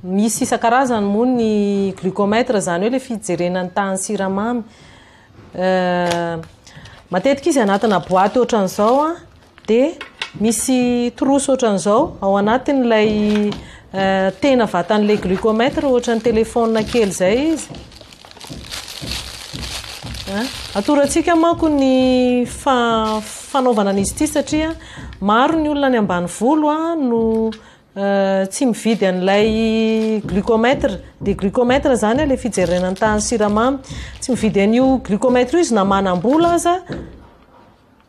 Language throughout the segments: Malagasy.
Misy isan-karazany moa ny glucomètre, izany hoe ilay fijerena ny tahan'ny siramamy. Euh, matetika izy anatina boaty ohatran'izao an, dia misy trousse ohatran'izao ao anatin'ilay euh, tena vatan'ilay glucomètre, ohatran'ny téléphone kely izay izy. Atorantsika manko ny fanaovana an'izy ity satria maro ny olona any ambanivolo no tsy mividy an'ilay glucomètre. Dia glucomètre izany ilay fijerena ny tahan'ny siramamy. Tsy mividy an'io glucomètre io izy na manam-bola aza.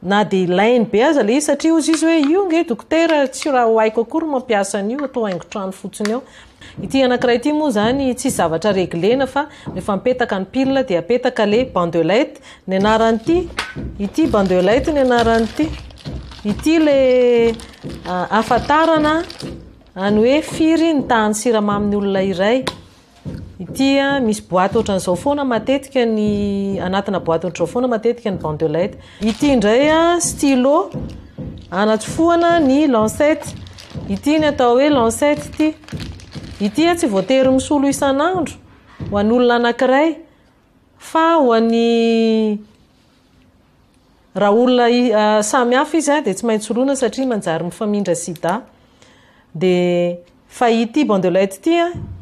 Na dia ilainy be aza ilay izy satria hozy izy hoe io ange dokotera tsy raha ho haiko akory mampiasa an'io atao haingon-trano fotsiny eo. Ity anankiray ity moa izany tsisy zavatra reglena fa rehefa mipetaka ny pile dia apetaka ilay bandelette ny anaran'ity ity bandelette ny anaran'ity ity ilay ahafantarana any hoe firy ny tahan'ny siramamy ny olona iray. Ity misy boaty ohatran'izao foana matetika ny anatina boaty ohatran'izao foana matetika ny bandelette. Ity indray stylo anatsofohana ny lancette. Ity ny atao hoe lancette ity. Ity tsy voatery misolo isan'andro ho an'olona anankiray fa ho an'ny Raha olona samy hafa izy dia tsy maintsy oloina satria manjary mifamindra sida. Dia fa ity banc de light ity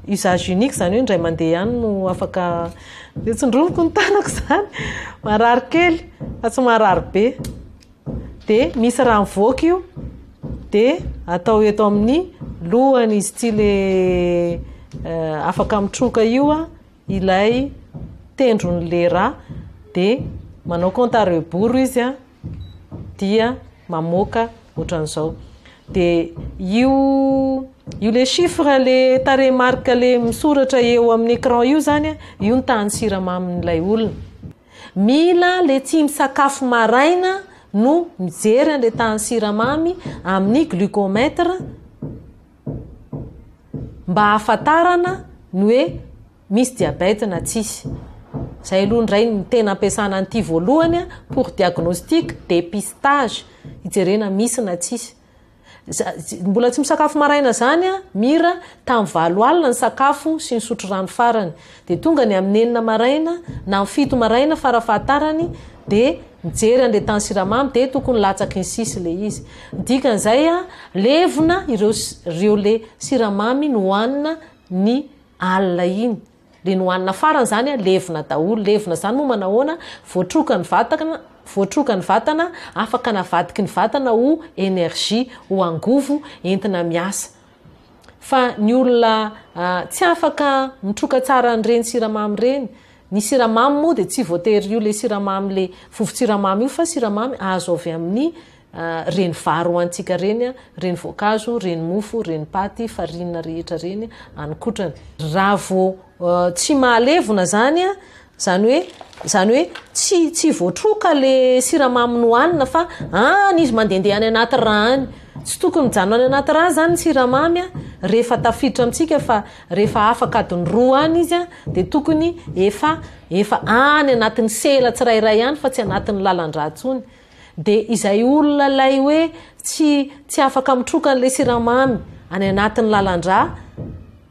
usage unique izany hoe indray mandeha ihany no afaka dia tsindroviko ny tanako izany. Marary kely fa tsy marary be. Dia misy raha mivoaka io dia atao eto amin'ny lohany izy ity ilay afaka mitroka io ilay tendron'ny lera dia manao compte à rebours izy a dia mamoaka ohatran'izao dia io io le chiffre le tarehy marque le misoratra eo amin'ny écran io zany a io ny tahan'ny siramamin'ilay olona mila le tsy misakafo maraina no mijery an'le tahan'ny siramamy amin'ny glucomètre mba hahafantarana ny hoe misy diabète na tsisy. Zay aloha indray ny tena ampiasana an'ity voalohany pour diagnostic, dépistage, hijerena misy na tsisy. Mbola tsy misakafo maraina zany an, mira, tamin'ny valo alina ny sakafo sy nisotro rano farany. Dia tonga ny amin'ny enina maraina na amin'ny fito maraina fara fahatarany dia mijery an'ilay tany siramamy dia tokony latsaky ny sisy ilay izy. Ny dikan'izay a, levona ireo ireo le siramamy nohanina ny alina iny. Le nohanina farany izany a, levona daholo. Levona izany moa manahoana? Voatroka ny vatana, voatroka ny vatana, afaka navadiky ny vatana ho energie, ho angovo entina miasa. Fa ny olona tsy afaka mitroka tsara an'ireny siramamy ireny, ny siramamy moa dia tsy voatery io ilay siramamy ilay vovon-tsiramamy io fa siramamy azo avy amin'ny ireny vary hohanintsika ireny, ireny voankazo, ireny mofo, ireny paty, farine rehetra ireny any kotrany. Raha vao tsy mahalevona izany Izany hoe, izany hoe tsy, tsy voatroka le siramamy nohanina fa any izy mandehandeha any anaty ra any. Tsy tokony mijanona any anaty ra izany ny siramamy an, rehefa tafiditra amintsika fa rehefa afaka adiny roa any izy an, dia tokony efa, efa any anatin'ny sela tsirairay any fa tsy anatin'ny lalan-dra intsony. Dia izay olona ilay hoe tsy tsy afaka mitroka an'ilay siramamy any anatin'ny lalan-drà,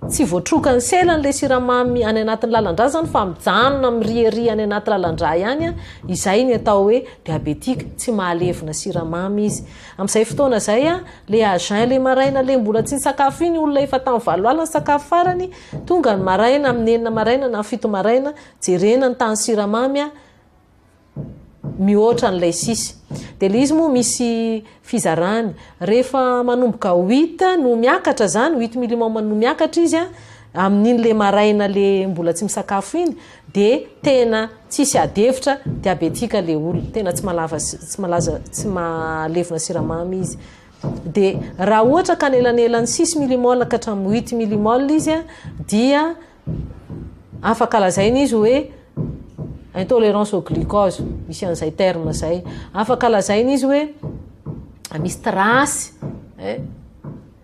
tsy voatrokan'ny sela an'ilay siramamy any anatin'ny lalan-drà izany fa mijanona miriaria any anaty lalan-drà ihany, izay ny atao hoe diabetika, tsy mahalevona siramamy izy. Amin'izay fotoana izay, ilay à jeun ilay maraina ilay mbola tsy nisakafo iny olona efa tamin'ny valo alina nisakafo farany, tonga ny maraina amin'ny enina maraina na fito maraina, jerena ny tahan'ny siramamy, mihoatra an'ilay sisy. Dia ilay izy moa misy fizarany. Rehefa manomboka huit no miakatra izany, huit millimum no miakatra izy an, amin'iny ilay maraina ilay mbola tsy misakafo iny, dia tena tsisy ady hevitra, diabetika ilay olona. Tena tsy malava, tsy malaza, tsy malevona siramamy izy. Dia raha ohatra ka anelanelan'ny six millimol ka hatramin'ny huit millimol izy an, dia afaka lazaina izy hoe intolérance au glucose misy an'izay terme zay afaka lazaina izy hoe misy trace eh,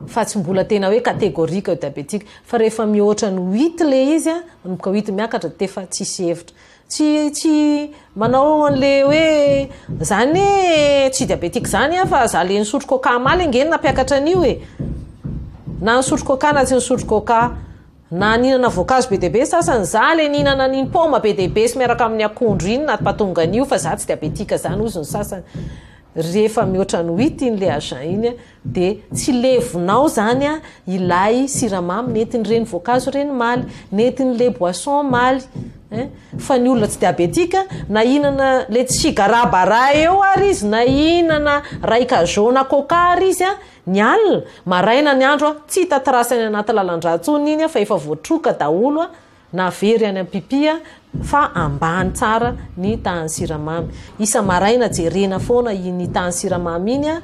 fa tsy mbola tena hoe catégorique eo diabétique fa rehefa mihoatra ny huit le izy a manomboka huit miakatra de efa tsisy hevitra tsy tsy manao an'le hoe zany tsy diabétique zany a fa za le nisotro coca maly ange nampiakatra an'io e na nisotro coca na tsy nisotro coca Na nihinana voankazo be dia be ny sasany, za le nihinana an'iny paoma be dia be sy miaraka amin'ny akondro iny na patonga an'io fa za tsy diabetika zany hozy ny sasany, rehefa mihoatra ny huit iny le agent iny de tsy levonao zany ilay siramamy nentin'ireny voankazo ireny maly, nentin'le boisson maly ein, fa ny olona tsy diabetika na hihinana le tsigarà bara eo ary izy na hihinana raika jaune coca ary izy Ny alina, maraina ny andro a, tsy hita trace any anaty lalan-drà tsony iny a fa efa voatroka daholo a, na very any am-pipy a, fa ambany tsara ny tahan'ny siramamy. Isa-maraina jerena foana iny tahan'ny siramamy iny a,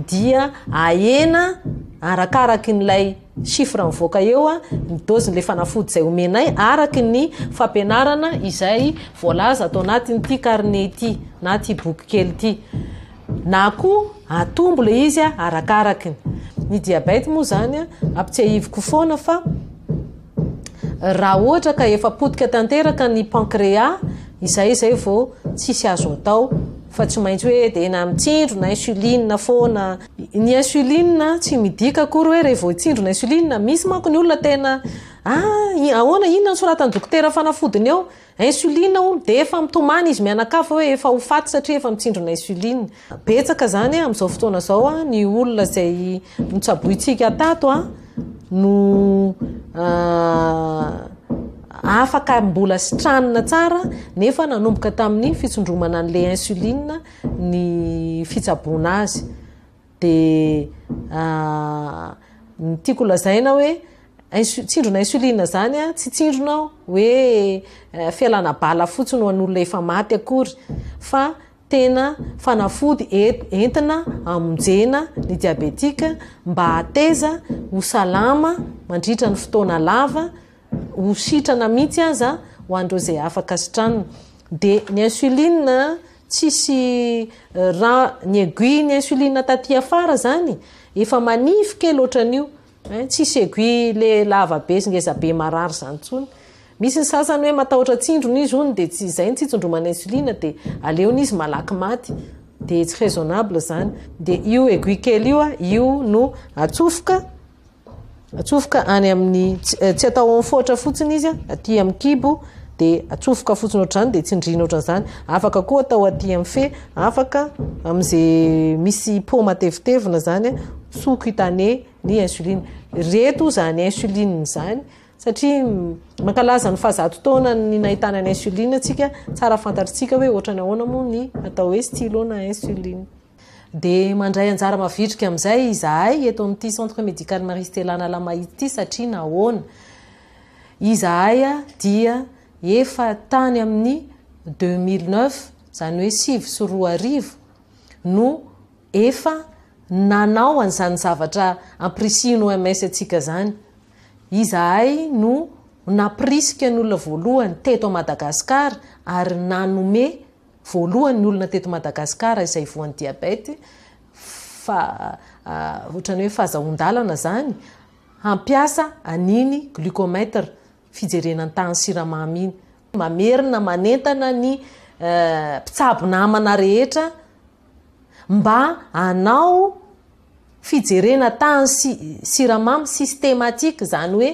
dia ahena arakaraky an'ilay chiffre mivoaka eo a, ny dôzin'ilay fanafody izay omenay araky ny fampianarana izay voalaza ato anatin'ity carnet ity na ity boky kely ity. Na koa atombo ilay izy arakaraka ny. Ny diabète moa izany ampitsiahiviko foana fa raha ohatra ka efa potika tanteraka ny pankrea, izay izay vao tsisy azo atao fa tsy maintsy hoe dia na mitsindrona insuline foana. Ny insuline tsy midika akory hoe rehefa vao hitsindrona insuline, misy manko ny olona tena, ah, ahoana, inona no soratan'ny dokotera fanafodiny ao? Insuline hono dia efa mitomany izy mianakavy hoe efa ho faty satria efa mitsindrona insuline. Betsaka zany amin'izao fotoana izao ny olona izay notsabointsika tato no afaka mbola sitranina tsara nefa nanomboka tamin'ny fitsondromana an'ilay insuline ny fitsaboana azy. dia ny tiako lazaina hoe tsindrona insuline zany a tsy tsindrona hoe eh, fialana bala fotsiny ho an'olona efa maty akory fa tena fanafody entina amonjena ny diabetika mba hateza ho salama mandritra ny fotoana lava ho sitrana mihitsy aza ho an'ireo izay afaka sitranina. Dia ny insuline tsisy ra ny aiguille ny insuline taty afara izany efa manify kely ohatran'io hein, tsisy aiguille le lava be sy ngeza be marary izany intsony. Misy ny sasany hoe matahotra tsindrona izy hono dia tsy izay ny tsitsondromana insuline dia aleony izy malaky maty. Dia tsy raisonnable izany. Dia io aiguille kely io, io no atsofoka. atsofoka any amin'ny tsy atao ao amin'ny foatra fotsiny izy aty amin'ny kibo dia atsofoka fotsiny ohatr'izany dia tsindriana ohatr'izany afaka koa atao aty amin'ny fe afaka amin'izay misy po matevitevina izany soa cutané ny insuline reto izany insuline izany satria mankalaza ny fahazato taona ny nahitana ny insuline antsika tsara fantatritsika hoe ohatrany ahoana moa ny atao hoe stylo na insuline Dia mandray anjara mavitrika amin'izay izahay eto amin'ity Centre Médical Marie Stella Analamahitsy ity satria nahoana? Izahay dia efa tany amin'ny deux mille neuf, izany hoe sivy sy roa arivo no efa nanao an'izany zavatra ampirisihin'ny OMS antsika izany. Izahay no nampirisika ny olona voalohany teto Madagascar ary nanome Voalohany ny olona teto Madagascar izay voan'ny diabète fa otrany hoe fazahoan-dalana zany hampiasa an'iny glucomètre fijerena ny tahan'ny siramamy iny. Mamerina manentana ny mpitsabo namana rehetra mba hanao fijerena tany sy siramamy systematique zany hoe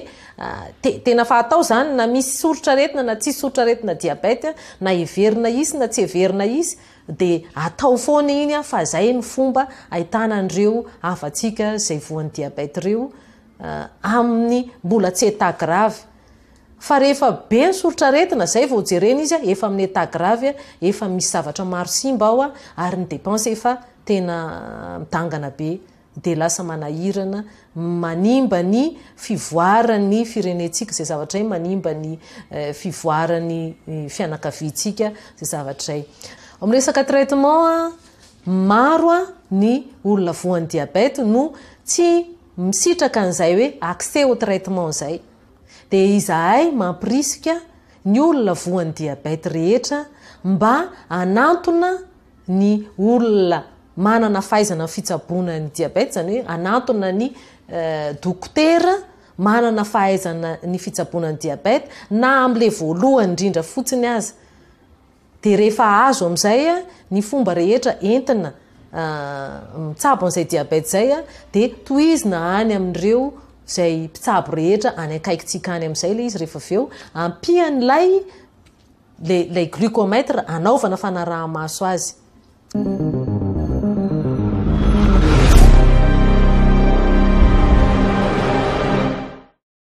tena fa atao zany na misy soritra aretina na tsisy soritra aretina diabète na heverina hisy na tsy heverina hisy de atao foana iny an fa zay ny fomba ahitana an'ireo havantsika zay voan'ny diabète ireo amin'ny mbola tsy état grave Fa rehefa be ny soritr'aretina, zay vao jerena izy efa amin'ny état grave, efa misy zavatra maro simba ao ary ny dépense efa tena midangana be dia lasa manahirana, manimba ny fivoaran'ny firenentsika izay zavatra izay, manimba ny fivoaran'ny fianakaviantsika izay zavatra izay. Ao amin'ny resaka traitement, maro ny olona voan'ny diabète no tsy misitraka an'izay hoe accès au traitement izay. dia izahay mampirisika ny olona voan'ny diabète rehetra mba hanantona ny olona manana fahaizana amin'ny fitsaboana ny diabète, izany hoe hanantona ny dokotera manana fahaizana ny fitsaboana ny diabète na amin'ilay voalohany indrindra fotsiny aza. Dia rehefa azo amin'izay ny fomba rehetra entina mitsabo an'izay diabète izay dia tohizina any amin'ireo izay mpitsabo rehetra any akaikitsika any amin'izay ilay izy rehefa avy eo ampian'ilay ilay glucomètre anaovana fanaraha-maso azy.